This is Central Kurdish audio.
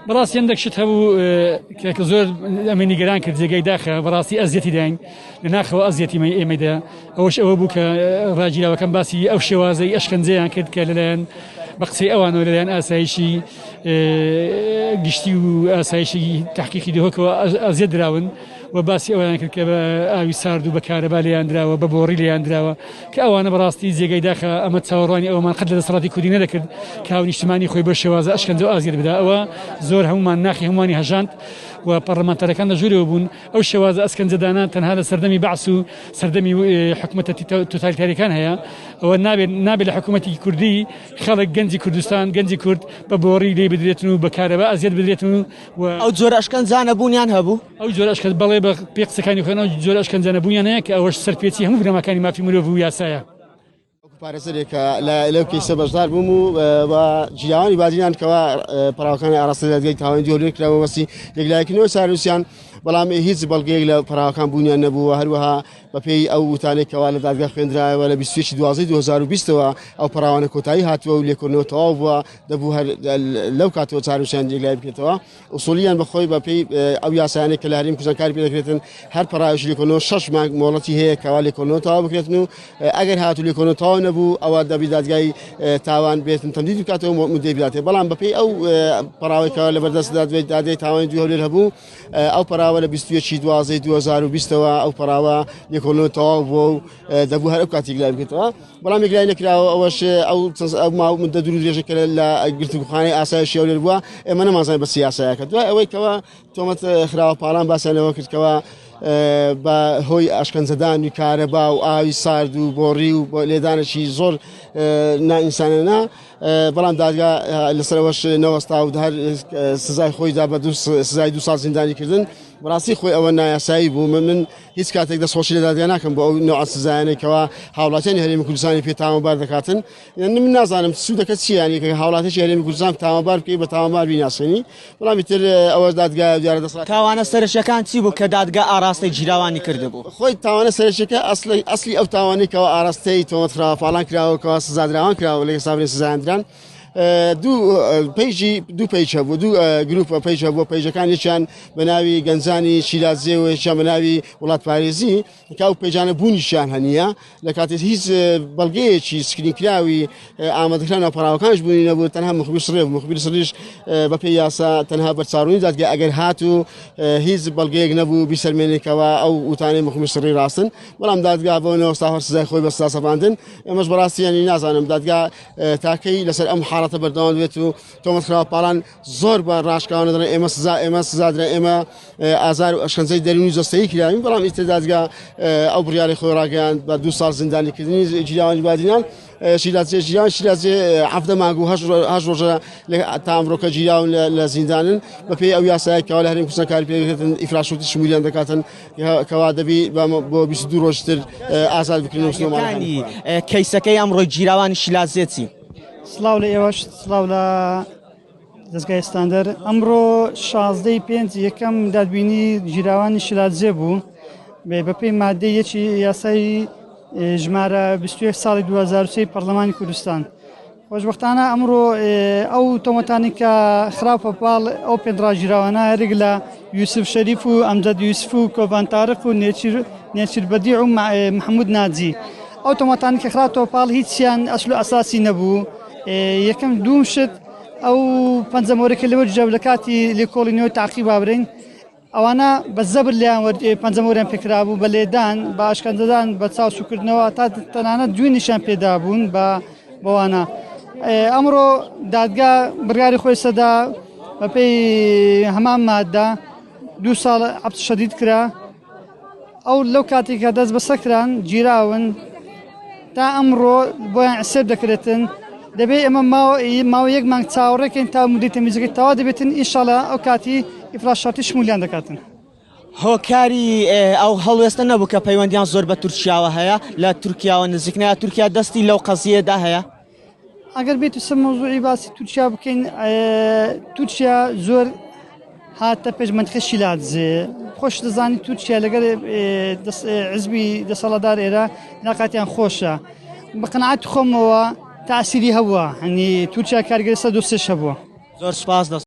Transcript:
بەڕاستی هەندێک شت هەبوو کە زۆر ئەمە نیگەران کرد جێگەی داخە بەڕاستی ئەزیەتی داین لە ناخەوە ئەزیەتی مە ئێمەدا ئەوش ئەوە بوو کە ڕاجیراوەکەم باسی ئەو شێوازەی ئەشکەنجەیان کرد کە لەلایەن بە قسەی ئەوانەوە لەلایەن ئاسایشی گشتی و ئاسایشی تحقیقی دهۆکەوە ئەزیە دراون و باسی ئەویان کرد کە بە ئاوی سارد و بەکارە بالیان دراوە بە بۆڕی لیان دراوە کە ئەوانە بەڕاستی جێگای داخە ئەمە چاوەڕوانی ئەوەمان قەت لە دەسەڵاتی کوردی نەدەکرد کە هاو نیشتمانی خۆی بە شێوازە ئەشکەنجە و ئازیەت بدا ئەوە زۆر هەمومان ناخی هەموانی هەژاند و پەڕلەمانتارەکان لە ژوورەوە بوون ئەو شێوازە ئەسکەنجەدانە تەنها لە سەردەمی بەعس و سەردەمی حکوومەتە توتالیتاریەکان هەیە ئەوە نابێت نابێت لە حکوومەتی کوردی خەڵک گەنجی کوردستان گەنجی کورد بە بۆڕی لێ بدرێتن و بەکارەوە ئازیەت بدرێتن و ئەو جۆرە ئەشکەنجانە بوونیان هەبوو ئەو جۆرە ئەشکەنجە بەڵێ بە پێی قسەکانی خۆیان ئەو جۆرە ئەشکەنجە نەبوونیان هەیە کە ئەوەش سەرپێچی هەموو بنەماکانی مافی مرۆڤ و یاسایە. پارێزەرێکە لە لەو کەیسە بەشدار بووم و بە جیاوانی بادینان کەوا پراوەکانی ئاراستە دەدگەی تاوانی دیۆلێن کراوە وەسی یەکلایەکنەوە چاروسیان بەڵام هیچ بەڵگەیەک لە پراوەکان بوونیان نەبووە هەروەها بەپێی ئەو وتانێکەوە لە دادگە خوێندراەوە لە 20 دوازی 2020ەوە ئەو پراوانە کۆتایی هاتووە و لێکردنەوە تەواو بووە دەبوو هەر لەو کاتەوە چاروسیان یەکلای بکرێتەوە ئوسوڵییەن بە خۆی بە پێی ئەو یاسایانەی کە لە هەرێمی کوردستان کاری پێ دەکرێتن، هەر پەڕاوێکی لێکۆڵینەوە شەش مانگ مۆڵەتی هەیە کەوا لێکۆڵینەوە تەواو بکرێتن و ئەگەر هاتوو لێکۆڵینەوە تەواو نەبوو ئەوا دەبی دادگای تاوان بێتن تەمدیدی بکاتەوە و موددەی بداتێ. بەڵام بە پێی ئەو پەڕاوەی کەوا لەبەردەست دادوەی دادگای تاوانی دوو هەولێر هەبوو ئەو پەراوە لە بیست و یەکی دوازدەی دوو هەزار و بیست ەوە ئەو پەراوە لێکۆڵینەوە تەواو بووە و دەبوو هەر ئەو کاتیک لای بکرێتەوە. بەڵام یەکلای نەکراوە ئەوەش ئەو ماو مدە دوور درێژە کە لە گرتوخانەی ئاسای شێولێر بووە ئێمە نەمازای بە سیاسایەکە دوای ئەوەی کەەوە تۆمەت خراوە پاڵان باسیانەوە کردکەوە بە هۆی ئاشکەنجەدانی کارەبا و ئاوی سارد و بۆڕی و لێدانێکی زۆر نائینسانەنا بەڵام دادگا لەسەرەوەش نەوەستا و هەر سزای خۆیدا بە سزای دو سال زیندانی کردن بەڕاستی خۆی ئەوە نایاسایی بوو من من هیچ کاتێک دەستخۆشی لە دادگا ناکەم بۆ ئەو نوع سزایانەی کەوا هاوڵاتیانی هەرێمی کوردستانی پێ تاوانبار دەکاتن یعنی من نازانم سوودەکە چییانی کە هاوڵاتیی هەرێمی کوردستان تاوانبار بکەی بە تاوانبار بیناسێنی بەڵام تر ئەوە دادگا دیارە دەسڵات تاوانە سەرەکیەکان چی بوو کە دادگا ئاراستەی گیراوانی کردبوو خۆی تاوانە سەرەکیەکە ئەسلی ئەسلی ئەو تاوانەی کەەوە ئاراستەی تۆمەتخراوە پاڵان کراوەکەەوە سزادراوان کراوە لە ئێستا سزاندران دوو پەیژی دوو پەیج هەبوو دوو گروپە پەیج هەبوو پەیجەکان یەکیان بە ناوی گەنجانی شیرازێ و یەکیان بە ناوی وڵات پارێزی کاو پەیجانە بوونیشیان هەنیە لە کاتێک هیچ بەڵگەیەکی سکرینکراوی ئامادەکران و پەراوەکانش بوونی نەبوو تەنها مخبیر سڕێ مخبیر سڕیش بە پێی یاسا تەنها بەرچاڕوونی دادگە ئەگەر هات و هیچ بەڵگەیەک نەبوو بیسەرمێنێکەوە ئەو وتانەی مخبیر سڕی ڕاستن بەڵام دادگا بۆنەوە ساوەر سزای خۆی بەستا سەپاندن ئەمەش بەڕاستیانی نازانم دادگا تاکەی لەسەر ئەم حاڵەتە بەردەوام بێت و تۆمەخراپاران زۆر بە ڕاشکاوانە دەڵێن ئێمە سزا ئێمە سزادرا ئێمە ئازار و ئەشەنجەی دەرونی جستەی کراوین بەڵام ئیتدادگا ئەو بڕیاری خۆی ڕاگەیان بە دو سال زیندانیکردنی جیاوانی بادینان شیلازێ ژیان شیلازێ هەفتە ماگو هەش ڕۆژە تا ئەمرۆکە گیراون لە زیندانن بەپێی ئەو یاسایکەوە لە هەرێم کوردستان کار پێکردن ئیفراشوتی شمیلیان دەکاتن کەوا دەبی بۆ 22 ڕۆژ تر ئازاد بکرێنەوە سلێمانەکانی کەیسەکەی ئەمڕۆ گیراوانی شیلازێتی سلااو لە ئێوەش سلااو لە دەستگای ستاندەر ئەمڕۆ شازدەی پێنج یەکەم دادبینی گیراوانی شیلازێ بوو بێ بەپی مادەی یەکی یاسایی ژمارە 20 ساڵی 2023 پەرلەمانی کوردستان خۆشبەختانە ئەمڕۆ ئەو تۆمەتانی کە خراپە پاڵ ئەو پێنراژیراوانە هەرێک لە یوسف شەریف و ئەمجد یوسف و کۆبان تارق و نێچیر نێچیر بەدی و محمود ناجی ئەو تۆمەتانی کە خراپەوە پاڵ هیچیان ئەسل و ئەساسی نەبوو یەکەم دوم شت ئەو پەنجەمۆرەکە لەوە جەب لە کاتی لێکۆڵینەوە تاقی بابرین ئەوانە بە زەبر لێیان وەرد ئێ پەنجەم وەریان پێ کرابوو بە لێدان، بە ئەشکەنجەدان، بە چاو سووکردنەوە تا تەنانەت جوینیشیان پێ دابوون بە بەوانە. ئێ ئەمڕۆ دادگا بڕیاری خۆی سەدا بەپێی هەمان مادە دوو ساڵ حەبس شەدید کرا. ئەو لەو کاتی کە دەست بەسەر کران گیراون تا ئەمڕۆ بۆیان عسێب دەکرێتن دەبێت ئێمە ماوە یەک مانگ چاوەڕێکەین تا مدی تەمیزەکە تەوا دەبێتن ئیشاڵە ئەو کاتی ئیفراش شارتی شمولیان دەکاتن. هۆکاری ئەو هەڵوێستە نەبوو کە پەیوەندیان زۆر بە تورکیاوە هەیە لە تورکیاوە نزیکنە تورکیا دەستی لەو قەزیەدا هەیە ئەگەر بێت سەر مەوزوعی باسی تورکیا بکەین تورکیا زۆر هاتە پێش منتخە شیلادزێ خۆش دەزانی تورکیا لەگەر عزبی دەسەڵدار ئێرە ناقاتیان خۆشە بەقنعات خۆمەوە تاسیری هەبووە هەنی تورکیا کارگەسە دوسش هەبووە زۆر سپاس دەست